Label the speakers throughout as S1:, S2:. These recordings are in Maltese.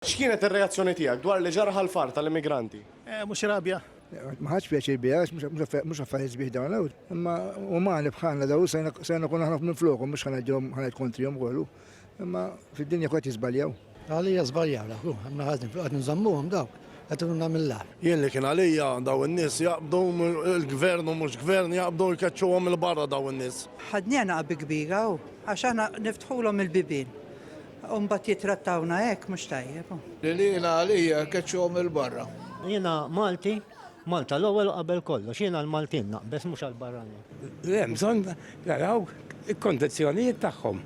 S1: X'kienet ir-reazzjoni tiegħek dwar li ġara ħall-far tal-immigranti? Eh, mhux rabja.
S2: Ma ħadx pjaċir
S3: biha għax mhux affarijiet sbieħ dawn l Imma umani bħalna daw sejna kun aħna minn flokhom mhux ħanaġġhom ħaned kontrihom kollu. Imma fid-dinja kwet jiżbaljaw. Għalija żbaljaw
S4: dak, għamna ħażin, qed nżammuhom daw qed nagħmillah. Jien li kien għalija
S5: daw in-nies jaqbdu l-gvern u mhux gvern jaqbdu jkeċċuhom il-barra daw in-nies. Ħadniena qabi kbira
S6: għax aħna niftħulhom il-bibien. U mbagħad jittrattawna hekk mhux tajjeb. Li lilha għalija
S7: keċċuhom 'il barra. Jiena Malti,
S8: Malta l-ewwel u qabel kollox. Jiena għall-Maltin naqbeż mhux għall-barranin. Li hemm bżonn
S9: naraw il-kondizzjonijiet tagħhom.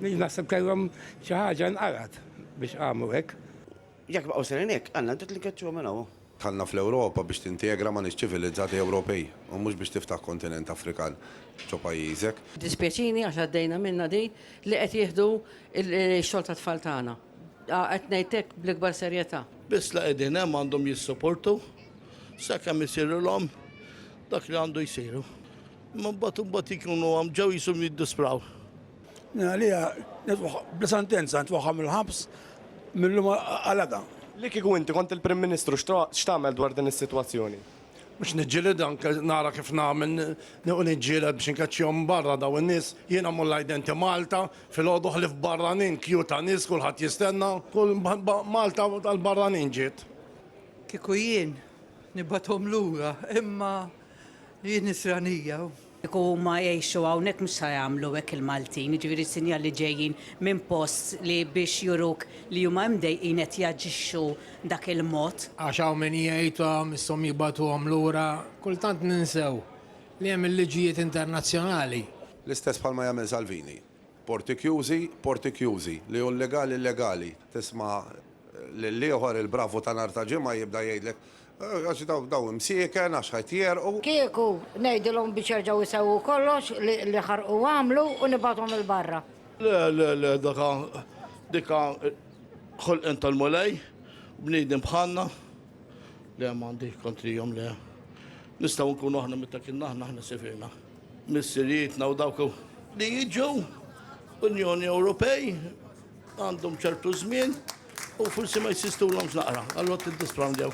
S9: Naħseb kellhom xi ħaġa nqalgħet biex qamu hekk. Jekk baqgħu sejrin
S10: hekk, Alla inti trid tkeċċihom minn hawn. Dħalna fl-Ewropa
S11: biex tintegra ma' nies ċivilizzati Ewropej u mhux biex tiftaħ kontinent Afrikan ġo pajjiżek. Jiddispjaċini għax
S12: għaddejna minnha din li qed jieħdu x-xogħol tat-tfal tagħna. Qed ngħid hekk bl-ikbar serjetà. Biss li qegħdin hemm
S2: għandhom jissuportu sakemm isirilhom dak li għandu jsiru. Imma mbagħad imbagħad ikunu hawn ġew jisum jiddispraw. Għalija,
S7: bla sentenza, nitwaħħal mill-ħabs mill-lum għal għada. Li kieku inti
S1: kont il-Prim Ministru x'tagħmel dwar din is-sitwazzjoni? Biex niġġielidha
S5: anke nara kif nagħmel niequ niġġieled biex inkeċċihom barra dawn in-nies. Jiena mmur l-Identity Malta filgħodu ħlief barranin, queue ta' nies kulħadd jistenna. Kull Malta tal-barranin ġiet. Kieku
S6: jien nibgħathom lura imma jien nisranija u Kieku huma
S12: jgħixu hawnhekk mhux sa jagħmlu hekk il-Maltin, jiġifieri sinjali ġejjin minn post li biex juruk li huma imdejqin qed jaġixxu dak il-mod. Għax hawn min
S8: jgħidhom, isshom jibagħtuhom lura. Kultant ninsew li hemm il-liġijiet internazzjonali. L-istess bħalma
S11: jagħmel Salvini. Porti kjużi, porti kjużi. Li hu llegali llegali. Tisma' lill-ieħor il-bravu ta' nhar ta' Ġimgħa jibda jgħidlek Għax daw bdew imsieken, għax ħajt jegħrqu. Kieku
S13: ngħidilhom biex jerġgħu jsewwu kollox li ħarqu għamlu u nibgħathom 'il barra. Le, le, le,
S2: dak ha, dik ha ħolqien tal-Mulej, bniedem bħalna. Le, m'għandi kontrihom, le. Nistgħu nkunu aħna meta kienna aħna aħna sifirna. Missirijietna u dawk li jiġu Unjoni Ewropej għandhom ċertu żmien u forsi ma jsistulhomx naqra, allura tiddisprandew.